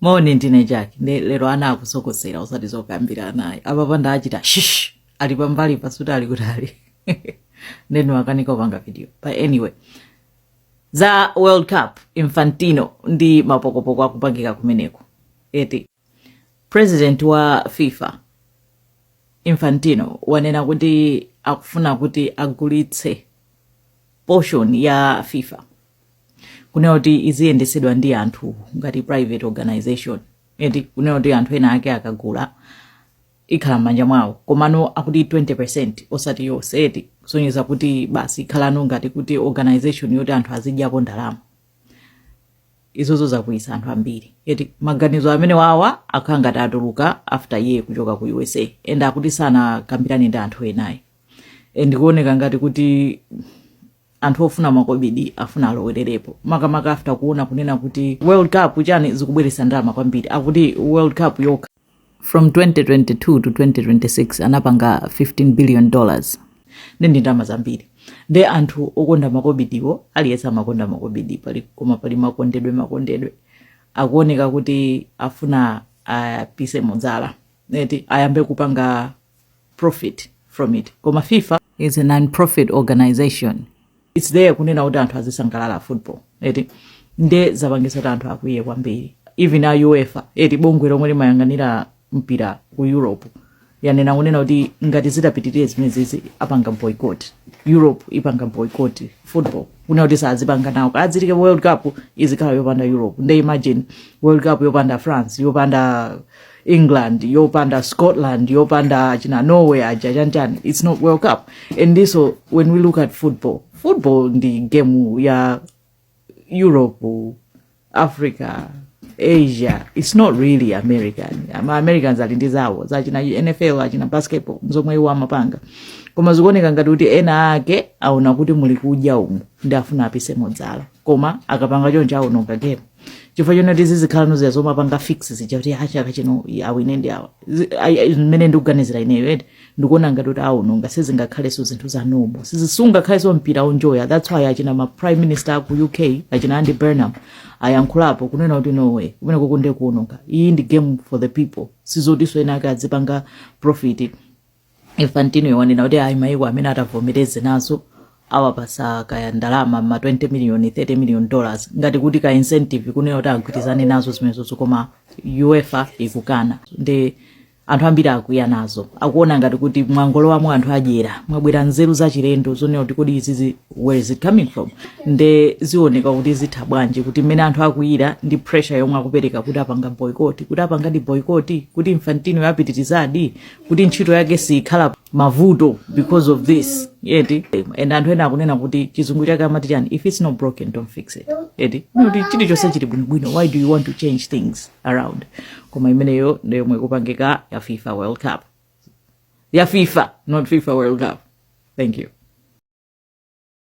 moni ndine jack nde lero ana akusokosera osati zokambirana ayi apapa ndaachita shish ali pambalipa sikuti ali kutali nde ndimakanika kupanga video but anyway za world cup infantino ndi mapokopoko akupangika kumeneko eti president wa fifa infantino wanena kuti akufuna kuti agulitse portion ya fifa kunena kuti iziyendetsedwa ndi anthu ngati private organization eti kunena kuti anthu ena ake akagula ikhala m'manja mwawo komano akuti 20 percent osati yonse eti kusonyeza kuti basi ikhalano ngati kuti organization yoti anthu azidyapo ndalama izozo zakwiyisa anthu ambiri eti maganizo amenewawa akhala ngati atuluka after iye kuchoka ku usa and akuti sanakambirane ndi anthu ena ayi and kuoneka ngati kuti anthu ofuna makobidi afuna alowererepo makamaka after kuona kunena kuti world cup chani zikubweretsa ndalama kwambiri akuti world cup yokha from 2022 to 2026 anapanga 15 billion dollars ndi ndi ndalama zambiri nde anthu okonda makobidiwo aliyense amakonda makobidi pali koma pali makondedwe makondedwe akuoneka kuti afuna apisemo dzala eti ayambe kupanga profit from it koma fifa is a non-profit organization its there kunena kuti anthu azisangalala football eti nde zapangisa kuti anthu akwiye kwambiri even a uefa eti bungwe lomwe limayang'anira mpira ku europe yanena kunena kuti ngati zitapitirire zimenezi apanga boycott europe ipanga boycott football kunena kuti sazipanga nawo kadzitike world cup izikhala yopanda europe nde imagine world cup yopanda france yopanda england yopanda scotland yopanda achina norway aja chanchani its not world cup and so when we look at football football ndi game ya europe africa asia its not really american americans ali ndi zawo zachina nfl achina basketball nzomwe iwo amapanga koma zikuoneka ngati kuti ena ake aona kuti muli kudya umu nde afuna apisemo dzala koma akapanga choncho awononga game chifukwa chonena kuti zizikhalano zija zomapanga fix zija kuti achaka chino awine ndi awa Zi- ai- ai- zimene ndikuganizira ineyo eti ndikuona ngati kuti awononga sizingakhalenso zinthu za normal sizi sungakhalenso mpira onjoya that's why achina ma prime minister aku uk achina andy burnham ayankhulapo kunena kuti no way kumenekuku nde kuononga iyi ndi game for the people sizotinso ena ake adzipanga profit infantino wanena kuti ayi maiko amene atavomereze nazo awapasa kaya ndalama ma 20 million 30 million dollars ngati kuti ka incentive kunena kuti agwirizane nazo zimenezozo koma uefa ikukana ndi anthu ambiri akwiya nazo akuona ngati kuti mwangolowamo anthu adyera mwabwera nzeru zachilendo zonena kuti kodi izizi where is it coming from nde zioneka kuti zitha bwanji kuti mmene anthu akwiyira ndi pressure yomwe akupereka kuti apanga boycott kuti apangadi boycott kuti infantino yapitirizadi kuti ntchito yake siikhala mavuto because of this eti and anthu ena akunena kuti chizungu chake amati chani if it's not broken don't fix it eti kuti chilichonse chili bwinobwino why do you want to change things around koma imeneyo ndiyomwe ikupangika ya fifa world cup ya fifa not fifa world cup thank you